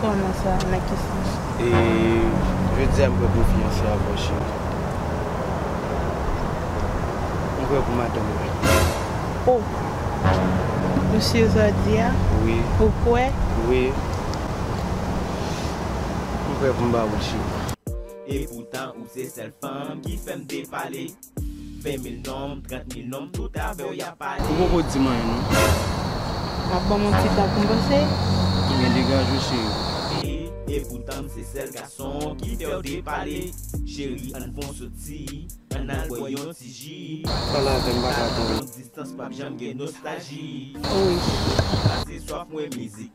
Kòman sa? Nan ki sans? E jodi a m prè pou m fiyanse ak ou cheri. M prè pou madanm mwen tou cheri. O! Msye Zòdi a? Wi. Ou kwè? Wi. M prè pou m ba ou l cheri. Epoutan ou se sèl fanm ki fèm depale. 20 mil nonm, 30 mil nonm, tout avè w y ap pale. Ou poko di m anyen non. Ap ban m yon ti tan pou m panse. Ebyen degaje w cheri. E poutan m se sèl gason ki fè w depale. Cheri an n fon soti, an n al bwè yon ti ji. Pale avè m m pa ka tann. Nan long distans p ap janm gen nostalji. Pase swaf mwen mizik.